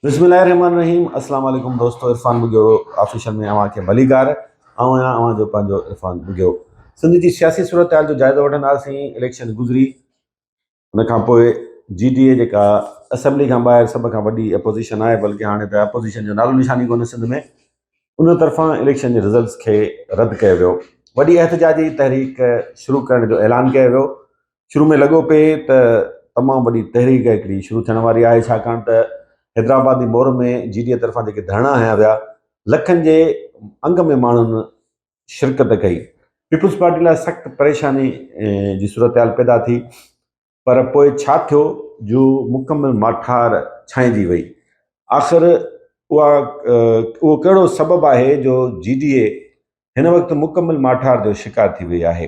بسم الله الرحمن الرحيم السلام عليڪم دوستو عرفان بگيو آفيشل ۾ اوهان کي ڀليڪار آئون آهيان اوهان جو پنهنجو عرفان بگيو سنڌ جي سياسي صورتحال جو جائزو وٺنداسين اليڪشن گذري ان کان پوء جي ڊي اي جيڪا اسيمبلي کان ٻاهر سڀ کان وڏي اپوزيشن آهي بلڪه هاڻي ته اپوزيشن جو نالو نشان ئي ڪونهي سنڌ ۾ ان طرفان اليڪشن جي رزلٽس کي رد ڪيو ويو وڏي احتجاجي تحريڪ شروع ڪرڻ جو اعلان ڪيو ويو شروع ۾ لڳو پئي ته تمام وڏي تحريڪ هڪڙي شروع ٿيڻ واري آهي ڇاڪاڻ ته حيدرآباد جي مور ۾ جي ڊي اي طرفان جيڪي ڌرڻا هنيا ويا لکن جي انگ ۾ ماڻهن شرڪت ڪئي. پيپلز پارٽي لاء سخت پريشاني جي صورتحال پيدا ٿي پر پوء ڇا ٿيو جو مڪمل ماٺار ڇانئجي وئي. آخر اها اهو ڪهڙو سبب آهي جو جي ڊي اي هن وقت مڪمل ماٺار جو شڪار ٿي وئي آهي.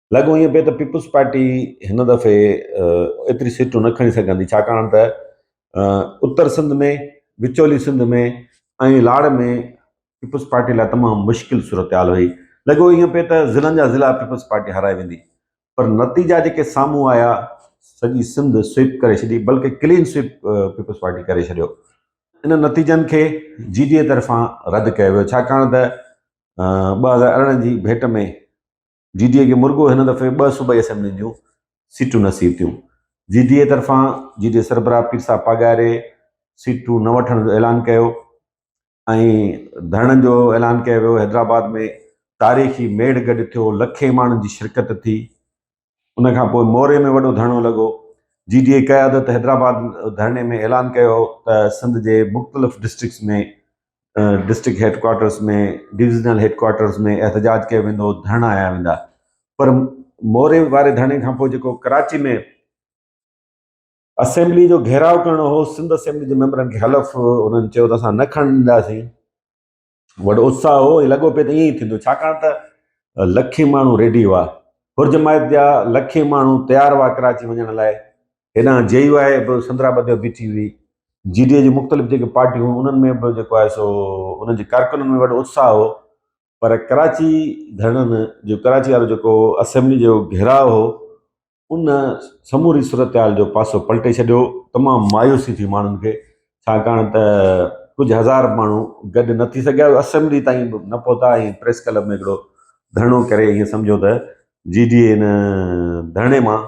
لڳو ائين پئي ته پيپلز پارٽي هن دفعي ايتري سيٽون نه کڻي سگهندي ڇاڪاڻ ته اتر سنڌ ۾ وچولي سنڌ ۾ ۽ لاڙ ۾ پيپلز پارٽي لاء تمام مشڪل صورتحال هئي لڳو ائين پئي ته ضلعن جا ضلع پيپلز پارٽي هارائي ويندي پر نتيجا جيڪي سامهون آيا سڄي سنڌ سوئپ ڪري ڇڏي بلڪ ڪلين سوئپ پيپلز پارٽي ڪري ڇڏيو ان نتيجن کي جي ڊي اي طرفان رد ڪيو ويو ڇاڪاڻ ته ٻه هزار ارڙهن جي ڀيٽ ۾ جي ڊي اي کي مرڳو هن دفعي ٻه صوبائي اسيمبلين جون سيٽون نصيب ٿيون، جي ڊي اي طرفان جي ڊي اي سربراهه پير صاحب پاڳاري سيٽون نه وٺڻ جو اعلان ڪيو ۽ ڌرڻن جو اعلان ڪيو ويو، حيدرآباد ۾ تاريخي ميڙ گڏ ٿيو، لکين ماڻهن جي شرڪت ٿي، ان کان پوء موري ۾ وڏو ڌرڻو لڳو، جي ڊي اي قيادت حيدرآباد ڌرڻي ۾ اعلان ڪيو ته سنڌ جي مختلف districts ۾ district headquarters ۾ divisional headquarters ۾ احتجاج ڪيو ويندو ڌرڻا هنيا ويندا پر موري واري ڌرڻي کان پوء جيڪو ڪراچي ۾ اسيمبلي جو گهيراء ڪرڻو هو سنڌ اسيمبلي جي ميمبرن کي حلف انهن چيو ته اسان نه کڻڻ ڏينداسين وڏو اتساهه هو ۽ لڳو پيو ته ائين ئي ٿيندو ڇاڪاڻ ته لکين ماڻهو ريڊي هئا هرجماعت جا لکين ماڻهو تيار هئا ڪراچي وڃڻ لاء هيڏانهن جي يو آء به سندرا ٻڌي بيٺي هئي. جي ڊي اي جون مختلف جيڪي پارٽيون هيون انهن ۾ به جيڪو آهي سو انهن جي ڪارڪنن ۾ وڏو اتساهه هو پر ڪراچي ڌرڻن جو ڪراچي وارو جيڪو اسيمبلي جو گهيراء هو ان سموري صورتحال جو پاسو پلٽي ڇڏيو تمام مايوسي ٿي ماڻهن کي ڇاڪاڻ ته ڪجهه هزار ماڻهو گڏ نه ٿي سگهيا اسيمبلي تائين به نه پهتا ۽ پريس ڪلب ۾ هڪڙو ڌرڻو ڪري ائين سمجهو ته جي ڊي اي ان ڌرڻي مان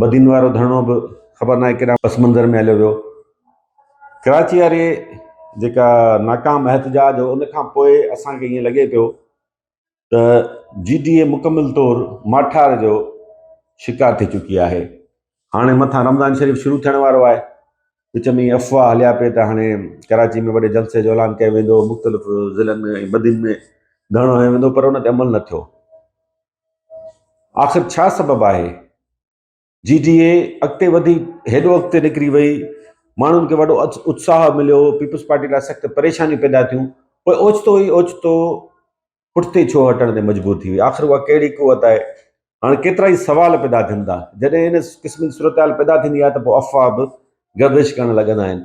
بدين وارو ڌرڻو به خبر ناهي ڪيڏانهن پس منظر ۾ هليو ويو. ڪراچي واري جيڪا ناڪام احتجاج هو ان کان پوء اسان کي ائين لڳي پيو ته جي ڊي اي مڪمل طور ماٺار جو شڪار ٿي چڪي آهي. هاڻي مٿان رمضان شريف شروع ٿيڻ وارو آهي. وچ ۾ افواهه هليا پئي ته هاڻي ڪراچي ۾ وڏي جلسي جو اعلان ڪيو ويندو، مختلف ضلعن ۾ ۽ بدين ۾ ڌرڻو هنيو ويندو پر ان تي عمل نه ٿيو. آخر ڇا سبب آهي جي ڊي اي اڳتي وڌي هيڏو اڳتي نڪري وئي ماڻهن کي وڏو اتساهه مليو پيپلز پارٽي لاء سخت پريشانيون پيدا ٿيون پوء اوچتو ئي اوچتو پٺتي ڇو هٽڻ تي مجبور ٿي وئي آخر اها ڪهڙي قوت آهي هاڻي ڪيترا ئي سوال پيدا ٿين ٿا جڏهن ان قسم جي صورتحال پيدا ٿيندي آهي ته پوء افواهه به گردش ڪرڻ لڳندا آهن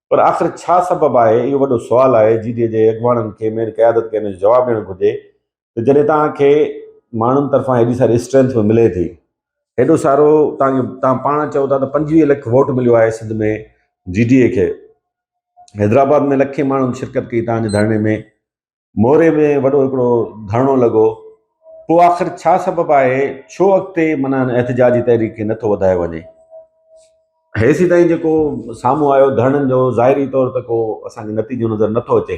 پر آخر ڇا سبب آهي؟ اهو وڏو سوال آهي، جي ڊي اي جي اڳواڻن کي، مين قيادت کي ان جو جواب ڏيڻ گهرجي ته جڏهن توهان کي ماڻهن طرفان هيڏي ساري اسٽرينٿ به ملي ٿي، هيڏو سارو توهان کي توهان پاڻ چئو ٿا ته پنجويهه لک ووٽ مليو آهي سنڌ ۾ جي ڊي اي کي، حيدرآباد ۾ لکين ماڻهن شرڪت ڪئي توهان جي ڌرڻي ۾، موري ۾ وڏو هڪڙو ڌرڻو لڳو، پوء آخر ڇا سبب آهي ڇو اڳتي معنيٰ هن احتجاجي تحريڪ کي نٿو وڌايو وڃي؟ هيسين تائين جيڪو سامهون آيو ڌرڻن جو ظاهري طور ته ڪو اسان کي نتيجو نظر نٿو اچي،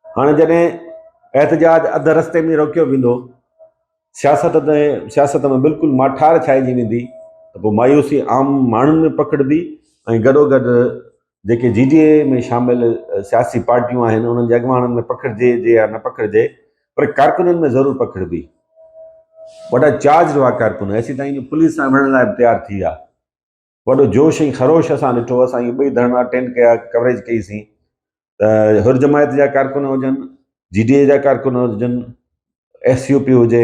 هاڻي جڏهن احتجاج اڌ رستي ۾ ئي روڪيو ويندو، سياست تي سياست ۾ بلڪل ماٺار ڇائجي ويندي ته پوء مايوسي عام ماڻهن ۾ پکڙبي ۽ گڏوگڏ جيڪي جي ڊي اي ۾ شامل سياسي پارٽيون آهن انهن جي اڳواڻن ۾ پکڙجي جي يا نه پکڙجي پر ڪارڪنن ۾ ضرور پکڙبي وڏا چارج هئا ڪارڪن ايسي تائين جو پوليس سان وڙهڻ لاء به تيار ٿي ويا وڏو جوش ۽ خروش اسان ڏٺو اسان اهي ٻئي ڌرڻا اٽينڊ ڪيا ڪوريج ڪئيسين ته حر جماعت جا ڪارڪن هجن جي ڊي اي جا ڪارڪن هجن ايس يو پي هجي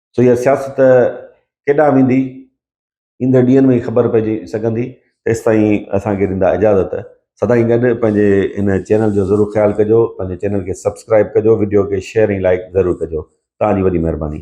سو اها سياست ڪيڏانهن ويندي ايندڙ ڏينهن ۾ خبر پئجي سگهندي تيستائين اسان کي ڏيندا اجازت سدائين گڏ پنهنجي هن چينل جو ضرور خيال ڪجو پنهنجي چينل کي سبسڪرائب ڪجو وڊيو کي شيئر ۽ لائڪ ضرور ڪجو توهان جي وڏي مهرباني.